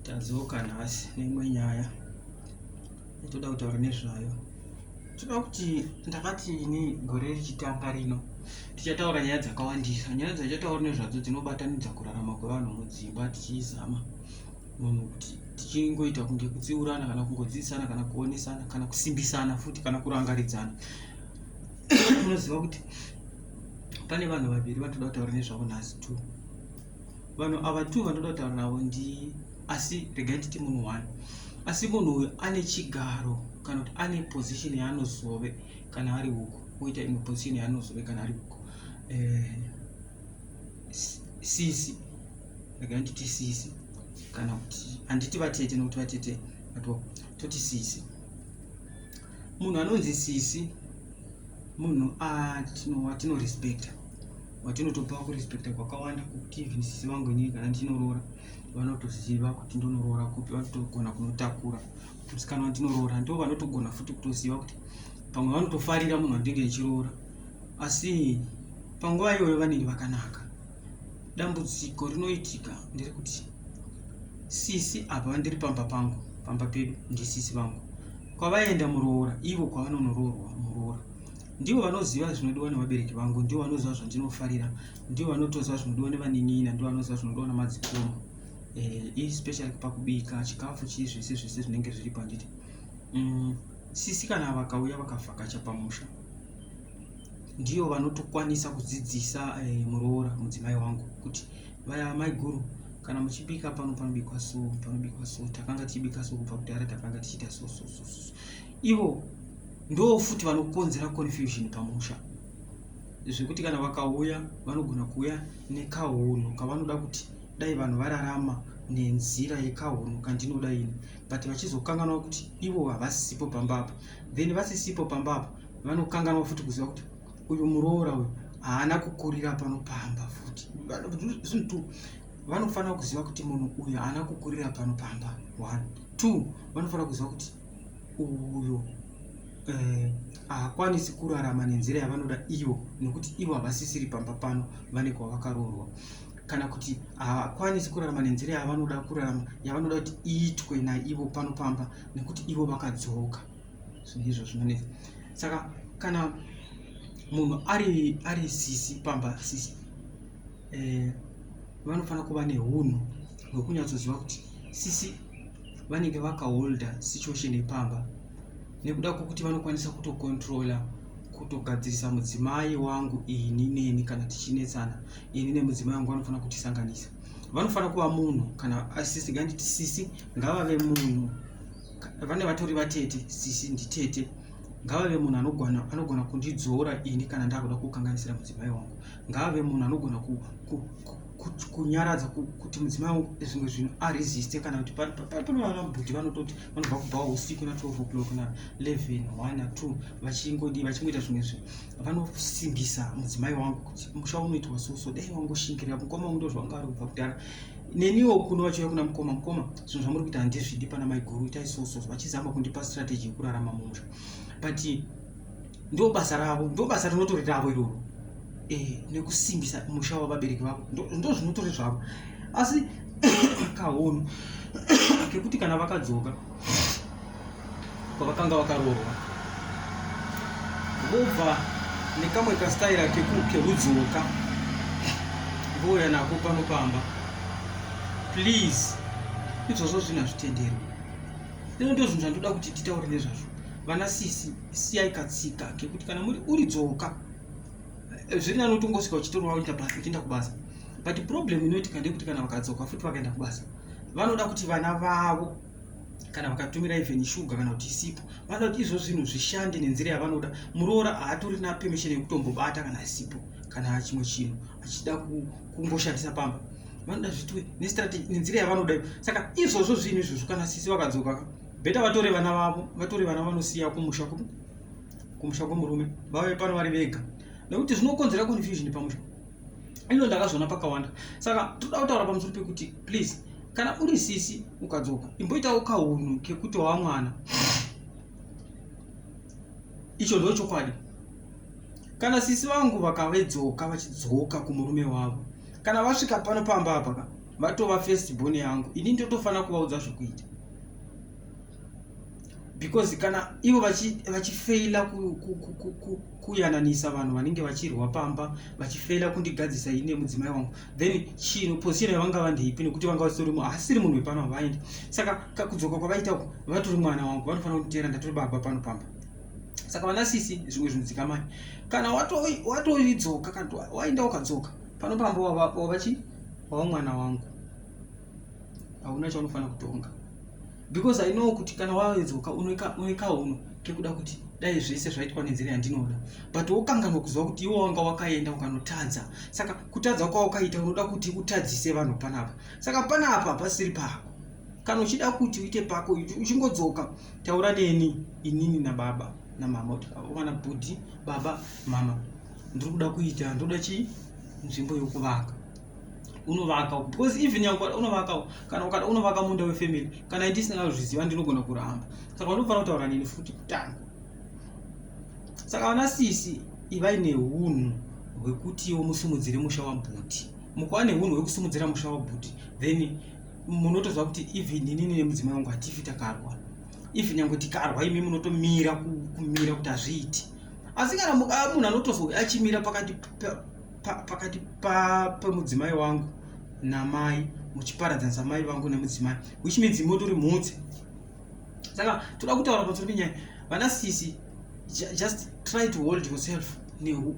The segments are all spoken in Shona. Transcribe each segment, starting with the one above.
tadzoka nhasi neimwe nyaya itoda kutaura nezvayo toda kuti ndakati ini gore richitanga rino tichataura nyaya dzakawandisa nyaya dzatichataura nezvadzo dzinobatanidza kurarama kwevanhu mudzimba tichizama munhu kuti tichingoita kunge kutsiurana kana kungodzidzisana kana kuonesana kana kusimbisana futi kana kurangaridzana unoziva kuti pane vanhu vaviri vatoda kutaura nezvavo nhasi two vanhu ava two vanoda kutaura navo ndi asi regai nditi munhu one asi munhu uyu ane chigaro kana kuti ane position yaanozove kana ari uko oita imwe position yaanozove kana ari uko eh, sisi regai nditi sisi kana kuti handiti vatete nokuti vatete vatwa toti sisi munhu anonzi sisi munhu atino respecta watinotopa kurespecta kwakawanda kuti even sisi vangu inini kana ndinoroora vanotoziva kuti ndonoroora kupi vanotogona kunotakura musikana wandinoroora ndo vanotogona futi kutoziva kuti pamwe vanotofarira munhu wandinge ndichiroora asi panguva iyoyo vanenge vakanaka dambudziko rinoitika nderekuti sisi apa vandiri pamba pangu pamba pedu ndisisi vangu kwavaenda muroora ivo kwavanonoroorwa muroora ndivo vanoziva zvinodiwa nevabereki vangu ndivo vanoziva zvandinofarira ndivo vanotoziva zvinodiwa nevaninina ndivo vanoziva zvinodiwa namadzikoma eh, especially pakubika chikafu chii zvese zvese zvinenge zviri panditi mm, sisi kana vakauya vakavhakacha pamusha ndiyo vanotokwanisa kudzidzisa eh, muroora mudzimai wangu kuti vaya maiguru kana muchibika pano panobikwa so panobikwa so takanga tichibika so kubva kudhara takanga tichiita so so so so ivo ndo futi vanokonzera confusion pamusha zvekuti kana vakauya vanogona kuuya nekahunhu kavanoda kuti dai vanhu vararama nenzira yekahunhu kandinoda ini but vachizokanganwa kuti ivo havasipo pamba apa then vasisipo pamba apa vanokanganwa futi kuziva kuti uyu muroora uyu haana kukurira pano pamba futi zvinhu two vanofanira kuziva kuti munhu uyu haana kukurira pano pamba one two vanofanira kuziva kuti uyu eh, haakwanisi eh, kurarama nenzira yavanoda iyo nokuti ivo havasisiri pamba pano vane kwavakaroorwa kana kuti haakwanisi kurarama nenzira yavanoda kurarama yavanoda kuti iitwe naivo pano pamba nekuti ivo vakadzoka ndizvo zvinonetsa saka kana munhu ari ari sisi pamba sisi eh, vanofanira kuva neunhu hwekunyatsoziva kuti sisi vanenge vakaholda situation yepamba nekuda kwekuti vanokwanisa kutokontrola kutogadzirisa mudzimai wangu ini neni kana tichinetsana ini nemudzimai wangu vanofanira kutisanganisa vanofanira kuva munhu kana asisi nganditi sisi ngavave munhu vane vatori vatete sisi nditete ngavave munhu anogona anogona kundidzora ini kana ndakuda kukanganisira mudzimai wangu ngavave munhu anogona ku, ku, ku, kunyaradza kuti mudzimai wangu zvimwe zvinhu aresiste kana kuti panovana bhudhi vanototi vanobva kubva usiku na 12 o'clock na 11 1 na 2 vachingodii vachingoita zvimwe zvinhu vanosimbisa mudzimai wangu kuti musha unoitwa so so dai wangoshingirira mukoma wangu ndozvanga ari kubva kudhara neniwo kuno vachiuya kuna mukoma mukoma zvinhu zvamuri kuita handizvidi pana maiguru itai soso vachizama kundipa strategy yekurarama mumusha but ndo basa ravo ndo basa rinotori ravo iroro eh, nekusimbisa musha wavabereki vavo ndo zvinotori zvavo asi kahono kekuti kana vakadzoka kwavakanga vakaroorwa vobva nekamwe kastaira kekudzoka vouya nako pano pamba please izvozvo zvinhu hazvitenderwi ino ndo zvinhu zvandoda kuti titaure nezvazvo vana sisi siyai katsika kekuti kana muri uri dzoka eh, zviri nani utongosvika uchitorwa uchienda kubasa but problem inoitika ndeyekuti kana vakadzoka futi vakaenda kubasa vanoda kuti vana vavo kana vakatumira even shuga kana kuti isipo vanoda kuti izvo zvinhu zvishande nenzira yavanoda muroora haatorina permission yekutombobata kana asipo kana chimwe chinhu achida kungoshandisa pamba vanoda zvitwe nestrategy nenzira yavanoda iyo saka izvozvo zvinhu izvozvo kana sisi vakadzoka beta vatore vana vavo vatore vana vanosiya kumusha kumusha kwemurume vave pano vari vega nekuti zvinokonzera confusion pamusha ino ndakazviona pakawanda saka toda kutaura pamusoro pekuti please kana uri sisi ukadzoka imboitawo kaunhu kekuti wava mwana icho ndo chokwadi kana sisi vangu vakavedzoka vachidzoka kumurume wavo kana vasvika pano pamba apaka vatova first born yangu ini ndotofanira kuvaudza zvekuita because kana ivo vachifeila vachi kuyananisa ku, ku, ku, vanhu vanenge vachirwa pamba vachifeila kundigadzisa ine mudzimai wangu then chino position yavanga vandeipi nekuti vanga vasitori munhu asiri munhu wepano havaendi saka kakudzoka kwavaita uku vatori mwana wangu vanofanira kunditeera ndatori baba pano pamba saka vana sisi zvimwe zvinhu dzikamai kana watoidzoka kana waenda ukadzoka pano pamba wavachi wava mwana wangu hauna chaunofanira kutonga because i know kuti kana waedzoka unoekauno kekuda kuti dai zvese zvaitwa nenzira yandinoda but wokanganwa kuziva kuti iwo wanga wakaenda ukanotadza saka kutadza kwawakaita unoda kuti utadzise vanhu panapa saka panapa pasiri pako kana uchida kuti uite pako uchingodzoka taura neni inini nababa namama kuti vana bhudhi baba mama ndiri kuda kuita ndoda chii nzvimbo yokuvaka unovaka uko because even yangu unovaka uko kana ukada unovaka munda wefamily kana ndisina kuzviziva ndinogona kuramba saka unofanira kutaura nini futi kutanga saka vana sisi ivai neunhu hwekutiwo musimudzire musha wabhuti mukuva neunhu hwekusimudzira musha wabhuti then munotoziva kuti even inini nemudzimai wangu hatifi takarwa even nyange tikarwa imi munotomira kumira kuti hazviiti asi kana munhu anotozouya achimira pakati pakati pemudzimai wangu namai muchiparadzanisa mai vangu nemudzimai which means motori mhutse saka toda kutaura pamusoro penyaya vana sisi just try to hold yourself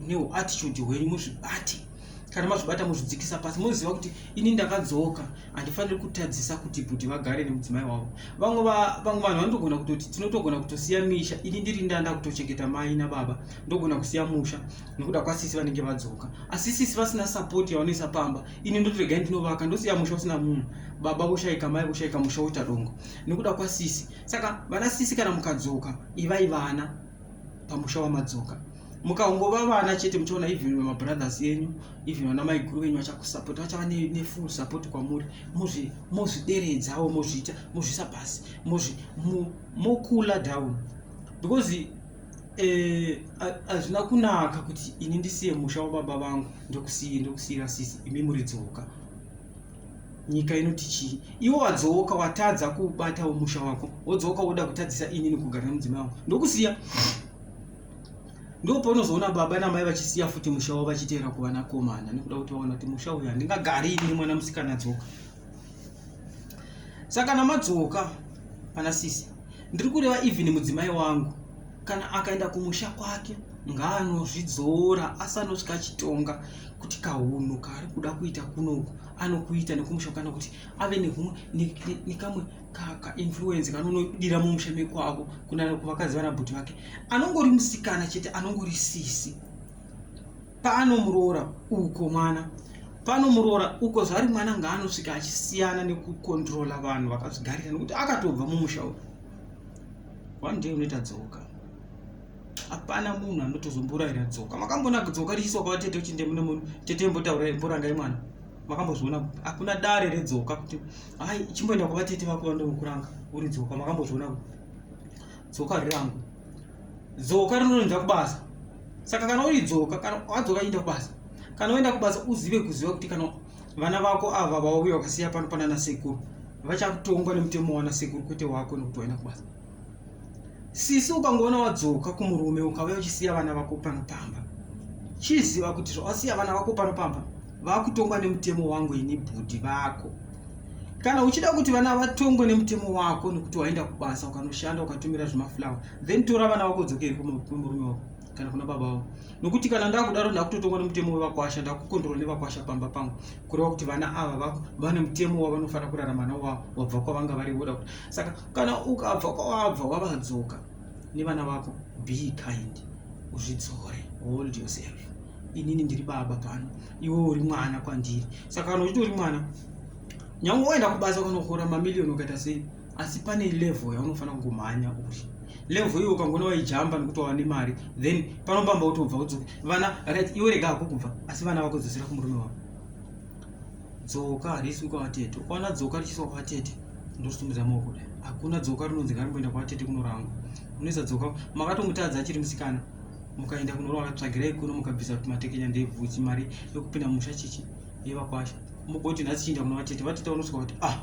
neuattitude hwenyu muzvibate kana mazvibata muzvidzikisa pasi moziva kuti ini ndakadzoka handifaniri kutadzisa kuti bhuti vagare nemudzimai wavo vamwe vanhu vanotogona kutoti tinotogona kutosiya misha ini ndiri ndanda kutochengeta mai nababa ndogona kusiya musha nekuda kwasisi vanenge vadzoka asi sisi vasina sapoti yavanoisa pamba ini ndoti regai ndinovaka ndosiya musha usina munhu baba voshaika mai voshaika musha woita dongo nekuda kwasisi saka vana sisi kana mukadzoka ivai vana pamusha wamadzoka mukangova vana chete muchaona even vemabrothers enyu even vana maiguru venyu vachakusapoti vachava nefull support kwamuri mozvideredzawo mozviita mozvisa pasi mokula down because Eh, hazvina e, kunaka kuti ini ndisiye musha wababa vangu ndokusiye ndokusiyira sisi imi muri dzoka nyika inoti chii iwe wadzoka watadza kubatawo musha wako wodzoka woda kutadzisa ini nokugara nemudzimai wangu ndokusiya ndopaunozoona baba namai vachisiya futi musha wavo vachiteera kuvanakomana nekuda kuti vaona kuti musha uyu handingagari ini mwana musikana dzoka saka kana madzoka pana sisi ndiri kureva even mudzimai wangu kana akaenda kumusha kwake ngaanozvidzora asanosvika achitonga kuti kahunhu kaari kuda kuita kunoku anokuita nekumusha kana kuti ave nehumwe nekamwe kainfluence kanonodira mumusha mekwako kunana kuvakadzi vanabhuti vake anongori musikana chete anongori sisi Pano muroora uko mwana. Pano muroora uko zvari mwana ngaanosvika achisiyana nekukontrola vanhu vakazvigarira nekuti akatobva mumusha uyu. One day unoita dzoka. Hapana munhu anotozomboraira dzoka. Makambona dzoka richiswa kwa tete uchinde mune munhu tete mbotaura mboranga imwana. Makambozviona hakuna dare redzoka kuti hai chimboenda kwa tete vako vanokuranga uri dzoka makambozviona kuti dzoka rirangu dzoka rinoenda kubasa saka kana uri dzoka kana wadzoka enda kubasa kana woenda kubasa uzive kuziva kuti kana vana vako ava vauya vakasiya pano panana sekuru vachakutongwa nemutemo wana sekuru kwete wako nekuti waenda kubasa sisi ukangoona wadzoka kumurume ukauya uchisiya vana vako pano pamba chiziva kuti zvawasiya vana vako pano pamba vakutongwa nemutemo wangu ini bhudhi vako Kana uchida kuti vana vatongwe nemutemo wako nekuti waenda kubasa ukanoshanda ukatumira zvemaflower then tora vana vako dzokeri kumurume wako kana kuna baba vavo nokuti kana ndakudaro ndakutotongwa nemutemo wevakwasha ndakukondorwa nevakwasha pamba pangu kureva kuti vana ava vako vane mutemo wavanofanira kurarama nawo wavo wabva kwavanga vari voda kuti saka kana ukabva kwawabva wavadzoka nevana vako be kind uzvidzore hold yourself inini ndiri baba pano iwe uri mwana kwandiri saka kana uchitori mwana nyange waenda kubasa kunohora mamiliyoni ukaita sei asi pane level yaunofanira kungomhanya uri level iyo ukangona waijamba nekuti wava nemari then panopamba utobva udzoka vana right iwe rega hako kubva asi vana vakudzosera kumurume wavo dzoka harisi kwavatete ukaona dzoka richiswa kwavatete ndosimuza maoko kudai hakuna dzoka rinonzi ngarimboenda kwavatete kunorangwa unoisa dzoka makatomutadza achiri musikana mukaenda kunoroora tsvagirai kuno mukabvisa kuti matekenya ndebvuchi mari yokupinda musha chichi yevakwasha mugoti nhasi chiinda kuna vatete vatete vanosvika kuti ah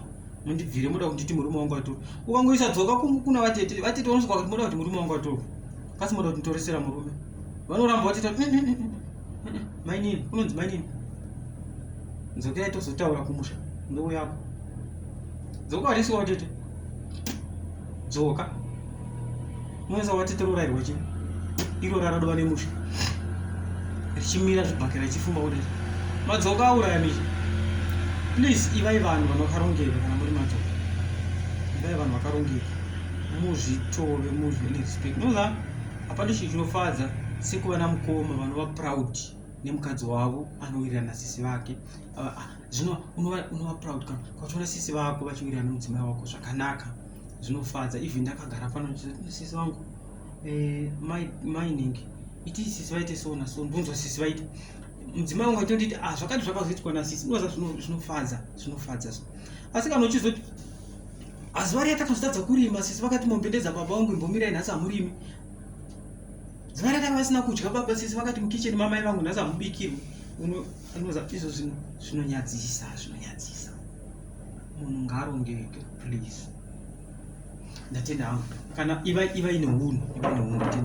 mundibvire moda kunditi murume wangu atori ukangoisa dzoka kuna vatete vatete vanosvika kuti moda kuti murume wangu atori kasi moda kuti ntoresera murume vanoramba vatete mm, mm, mm, mainini unonzi mainini dzokerai tozotaura kumusha ndouyako dzoka warisi watete dzoka unoisa watete rorairwa chii iro raradova nemusha richimira zvibhakera richifumba kudai madzoka auraya misha please ivai vanhu vanokarongeka kana muri madzoka ivai vanhu vakarongeka muzvitove muzvirespect nozaa Hapana chinhu chinofadza sekuva namukoma vanova proud nemukadzi wavo anowirirana sisi vake ah, ah, zvino unova proud kana kwachiona sisi vako vachiwirirana nemudzimai wako zvakanaka zvinofadza even ndakagara pano sisi vangu eh, mining iti sisi vaite so na so ndonzwa sisi vaite mudzimai wangu atonditi ah, zvakati zvakazoitwa nasisi ndozva zvinofadza zvinofadza asi kana uchizoti Azuva riya takazotadza kurima sisi vakati mombe ndedza baba vangu imbomirai nhasi hamurimi. Zuva riya tanga vasina kudya baba sisi vakati mukicheni mamai vangu nhasi hamubikirwi. Unoza izvo zvino zvinonyadzisa zvinonyadzisa. Munhu ngaarongeke please. Ndatenda hangu kana iva iva ine hunhu iva ine hunhu.